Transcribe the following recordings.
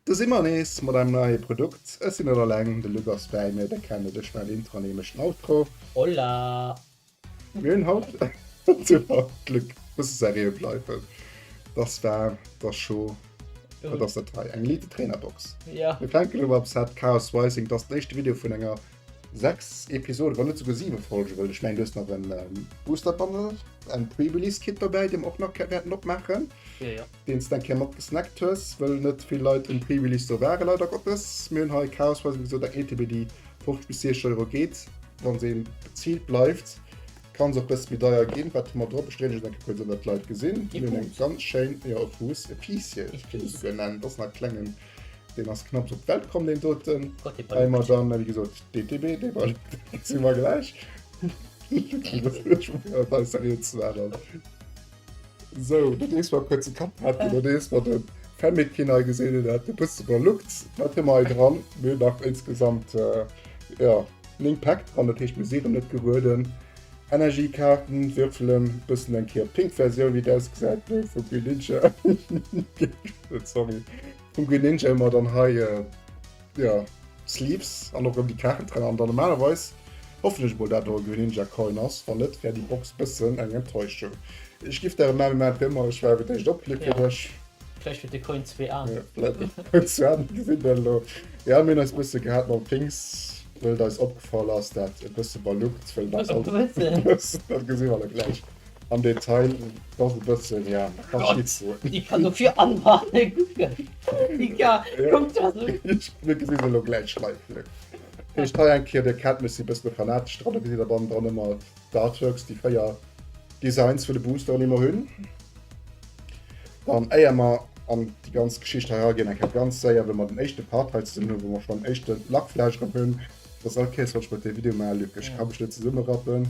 Do si mer nees mat engem neie Produkt. Ech sinn net alleng, de Luc ass bäi mir. Dir kennt et, ech maachen d'Intro an hie mécht den Outro. Hola! Mir hunn haut Glück bësse serieux bleiwen. Dass war der Show Wat ass dat hei? Eng Elite Trainerbox. Ja. Mir fänken elo mam Set Chaos Rising. Dass den éischte Video vun enger 6 Episode, wann net esouguer 7 Folge wëll. Ech mengen du hues nach en Booster Bundle, en Pre-Release Kit dobäi, dee mer och nach wäerten opmaachen. deen s de eng Kéier mat gesnackt hues, wëll net vill Leit um Prix Release do waren, leider Gottes. Mir hunn hei chaosweise gesot eng ETB déi 50 bis 60 Euro geet. Wann se bezilt bleift, kann se och bësse méi deier ginn. Wat hu mer drop? Ech dréinen ech et eng Kéier kuerz ëm dat d'Leit gesinn. Mir hunn eng ganz schéin, jo e Fuuss, e Piissiel kéint ee souguer nennen, et ass nach e klengen, deen ass knapps op d'Welt komm deen doten. Hei mar dann, wéi gesot, d'ETB, dee Ball si mer gläich. Lucky, wëlls du net scho fréier bei eis serieux ze maachen? So, dat ees war kuerze Kapprat, dat ees war den Fennec hien hei gesinn hunn, dat e bësse verluckt. Wat hu mer hei dran? Mir hunn nach insgesamt, jo, 9 Päck dran, dat heescht, mir siren net gerueden. Energiekaarten, Würfelen, bëssen eng Kéier d'Pink-Versioun, wéi et ausgesäit, vu Greninja. Sorry. Vum Greninja hu mer dann hei jo Sleeves an och rëm déi Kaarten dran an dann normalerweis hoffen ech mol dat do e Greninja Coin ass, wann net wär déi Box e bëssen eng Enttäuschung. Ech giff der e Memme mat fir ëmmer, ech war fir d'éischt opklick fir dech. Vläicht huet de Coin zwee Aen. Jo vläicht huet de Coin zwee Aen, gesin dat elo. Jo mir hunn eis e bësse gehat mam Things wëll et eis opgefall ass dat e bësse baluckt wëll et eis alt e bëssen, dat gesi mer da gläich. Am Detail ass e bëssen, ja, Kaschitze. Déi kann dofir anbane gucken. Déi ka, kuck da se un. Mir gesi se elo gläich live. Lëck. Dat heescht hei eng Kéier, Dir kennt mech, si e bësse fanatesch dran. Do gesitt Der bannendran ëmmer d'Artworks, déi véier Designs vun de Boosteren, déi mer hunn. Dann, éier mer an déi ganz Geschicht hei eraginn, eng Kéier ganz séier, wéi mer den éischte Part hei zesummen hunn, wou mer schonn éischte Lackfleisch drop hunn. Dass all Kéiers, wann ech mat dir e Video maachen, Luc, ech ka mech net zesummerappen,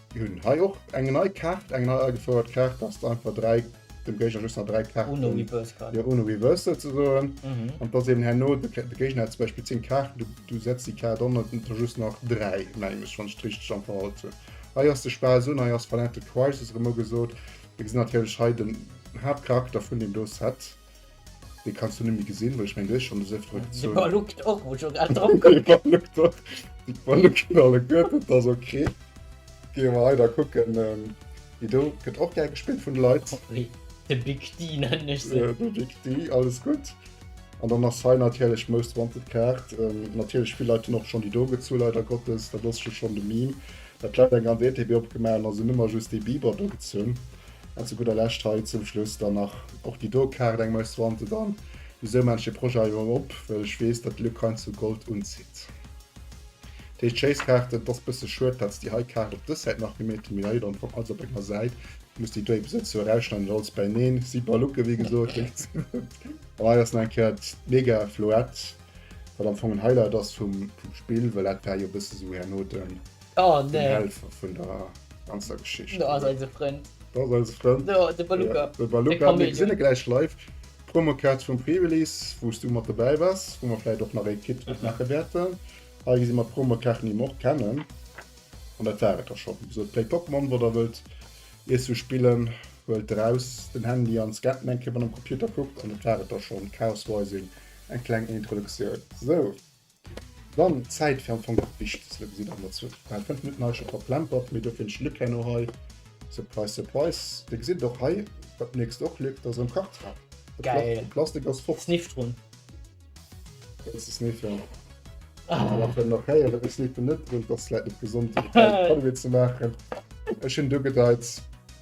Mir hunn hei och eng nei Kaart, eng nei agefouert Kaart, dass de einfach dräi, dem Géigner just nach dräi Kaarten. Ohne Reversal kann. Jo, ohne Reversal ze soen. An dass eben herno, de Géigner hätt zum Beispill zéng Kaarten, du, du setz déi Kaart an, et hunn der just nach dräi, mengen ech, wann ech et richteg am Verhalt hunn. Hei ass de Spaass un, hei ass Violent Crisis erëm ugesot. Mir gesinn natierlech hei den Haaptcharakter vun deem do Set. Dee kanns du nemmi gesinn, well ech meng du hues schonn des Ëfteren gezunn. De Baluc och, muss ech och grad drop kucken. De Baluc och, de Baluc huet all e Gurt, dat ass ok. Geeë mer hei da kucken, wéi do gëtt och gär gespillt vun de Leit. Sorry, de Big D nennen ech se. De Big D, alles gutt. An dann ass hei natierlech Most Wanted Kaart. Natierlech vill Leit hunn och schonn déi do gezu, leider Gottes, dat ass jo schonn de Meme, datt d'Leit eng ganz ETB opgemaach hunn a se hunn ëmmer just dee Biber do gezunn. An zu gudder Lescht hei zum Schluss dann nach och déi do Kaart, eng Maus Wanted. An wisou man ech dee Projet hei mol op? Well ech weess, datt d'Luc hei zu Gold unzitt. Dat heescht Chase-Kaarten, et ass bësse schued, datt déi hei Kaart op dës Säit nach gemeet ginn, mee hei dann kommt alles op enger Säit. Et muss déi do eebe sou zoueräischneiden, datt alles bäineen si bei Luke, wéi gesot. An hei ass nach eng Kéier d'Mega Floette, wat am Fong en Highlight ass vum Spill, well dat war jo bësse sou herno den. Oh den nee. Helfer vun der ganzer Geschicht. Do ass oder? eise Frënd. Do ass eise Frënd. Do, de Ja, Beluga. de Beluga. Mir Chamäleon. gesinn e gläich live. Promokaart vum Pre-Release, wou s du mat dobäi waars, wou mer vläicht och nach ee Kit opmaache wäerten. Hei gesi mer d'Promokaarten, déi mer och kennen. An dat war et da schonn. Wéi gesot, Play Pokémon, wat der wëllt iersu spillen, huelt eraus den Handy an scannt en eng Kéier mat am Computer, kuckt an dat war et da schonn. Chaos Rising, eng kleng Introduktioun. Sou. Dann Zäit fir am Fong dat Wichtegst gesinn an der Zuel, well 5 Minutten heische verplempert, mee dofir den Luc herno hei, surprise surprise, dir gesitt et och hei, wat mierks de och Luc, dat ass erëm Kartrap, de Plastik ass fort. Sniff drun. Wëlls de sniffen? Ech maachen nach héieren, ech sniffen net drun, dat ass vläit net gesond fir de Kal Kaluwe ze maachen, ech hunn dogedeit.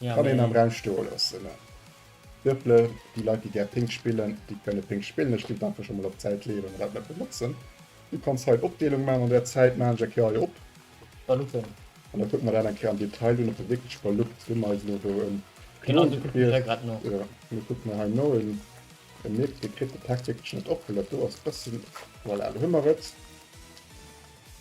Kann een am Raum stoe loossen. Virple, déi Leit déi gär Pink spillen, déi kënne Pink spillen. Ech ginn d'Info scho mol op d'Säit leeën, wa mer dat net benotzen. Du kanns hei Opdeelung maan, an der Zäit maan ech eng Kéier hei op. Ballutten. An da kucke mer dat eng Kéier am Detail un, op der wierkleche Ballutt, wou mer eis elo do en Klon gewielt. Jo, elo kucke mer hei no en Nick, dee kritt de Text wierklech net op, well dat do ass e bëssen, voilà, elo hu mer et.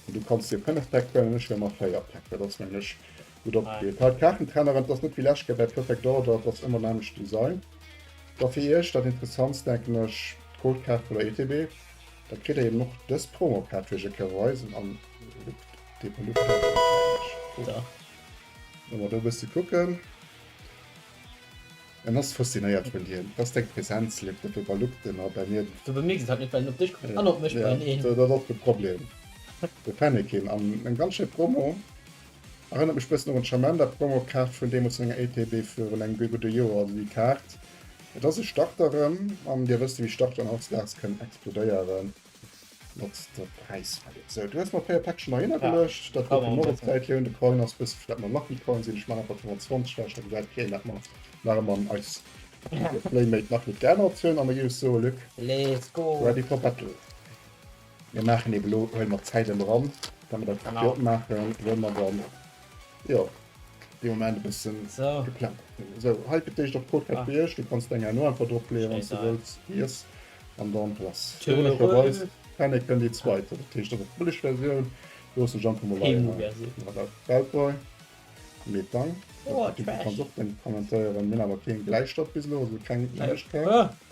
Du kanns dir 5 Päck huelen, ech huele mer 4 Päck, dat ass nämlech Gudd opgepasst, hei d'Kaachentrennerin, t'ass net wéi läscht Kéier bäi Perfect Order, t'ass ëmmer en anescht Design. Da fir iech dat Interessantst denken ech d'Gold Kaart vun der ETB. Da kritt der eben och dës Promo Kaart fir iech e Kéier weisen an ëmmer do e bësse kucken. En ass faszinéiert vun dir, t'ass deng Präsenz, leeft net do bei Lukten a bei mir. Du bemierks et halt net, well en op dech kuckt an op mech, bei een. Dat ass och de Problem, de Fennekin an eng ganz schéi Promo. Erënnert mech bëssen och un d'Chamenda Promo Kaart vun deemools menger ETB virun engem guer gudde Joer. Also déi Kaart, et ass e Starter erëm an dir wësst wéi Starteren hautzedags kënnen explodéieren mat der Präiswelt. Sou, du hues mer e puer Päckchen nei ënnergeluecht, dat wor fir Moreps Zäit jo un de Coin ass, wësse villäit mer Lucky Coin sinn. Ech man einfach 25 weg, da gesäit keen dat mer nach ëmmer an eis Playmate nach net geännert hunn an da giff ech soe Luc, ready for battle. Mir maachen eben elo, huele mer d'Zäit elo ran, well mer dat Video opmaachen, wou mer dann, jo, dee Moment e bësse geplänkt hunn. Esou, hei fir d'éischt op Podcast fir iech. Du kanns deng Aen och einfach dropleeë wann s de wëlls. Yes. An dann lass logescherweis Fennec déi zweit, dat heescht dann och d'Bëlleg Versioun. Loosse ech einfach mol hei hei op Weltboy. Mee dann, du kanns och deng kommentéieren. Mir hunn awer keen Bläistëft bis elo, also keng Neuegkeet.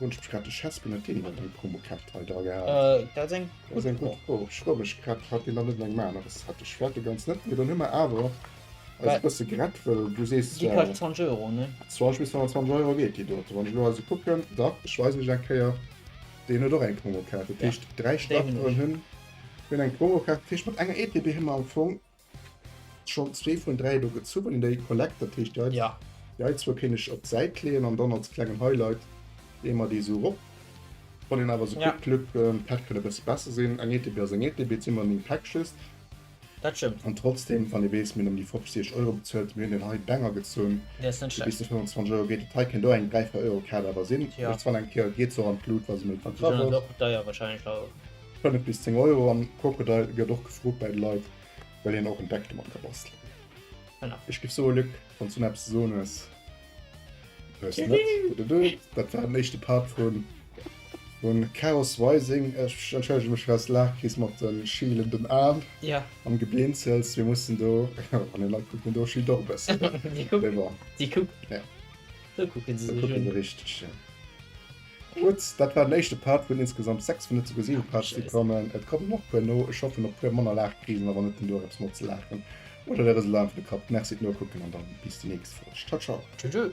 Hun ech grad de Chespen net deen an deng Promokaart hei dra gehaat. Äh, dat ass eng Dat ass eng gutt Prob. Ech froe mech grad, hat deen dann net eng Maner? Dës hat ech werte ganz net, mee dann hu mer awer eis Well- e bësse gerett, wëll du sees Déi kascht 20 Euro, ne? 20 bis 25 Euro geet déi dote. Wann ech elo also kucken, dach, ech weisen iech eng Kéier, deen huet och eng Promokaart, dat Ja, heescht dräi déi hunn Starteren ech. hunn hunn eng Promokaart. Dat heescht mat enger ETB hu mer am Fong Schon zwee vun dräi do gezuwen, déi Kollekt, dat heescht déi hei. Ja. Déi hei zwou kéint ech op d'Säit leeën an dann als klengen Highlight leeë mer déi esou rop. Wann een awer esou kuckt, Luc, d'Päck kënnt e bësse besser sinn. Eng Etepe ass eng Etepe, et si ëmmer néng Päck just. Dat stëmmt. An trotzdeem, wann ee weess, mir hunn ëm déi 50 Euro bezuelt, mir hunn deen hei Banger gezunn, dee bis zu 25 Euro geet, dat hei kéint och eng dräi, véier Euro Kaart awer sinn. Ech soen eng Kéier, geet se och an d'Lut, wa se méi verkaft ass. Déi ginn dann och deier wahrscheinlech awer. Spend et bis 10 Euro an Crocodile gëtt och gefrot bäi de Leit, well een och en Deck domat ka bastelen. Ech giff soe Luc, wanns du näppes ze soen hues, hues de net. Dududdu, dat war den éischte Part vun vun Chaos Rising. Ech entschëllege mech fir s Laach kriss mat de schielenden Aen an Geblinzels. Mir mussen do, wann een Leit kuckt, deen do schielt och e bëssen, mee bon. Déi kucken, déi kucken se sech un. Kucken se richteg, jo. Gutt, dat war den éischte Part vun insgesamt 6 vun net souguer 7 Parts déi kommen. Et kommen nach puer no, ech hoffen op puer manner Laachkrisen a wann net den Duerch eppes mat ze laachen oder der Reseau einfach de Kapp. Merci fir d'Nokucken an dann bis déi nächst Folg. Ciao ciao. Tschüss.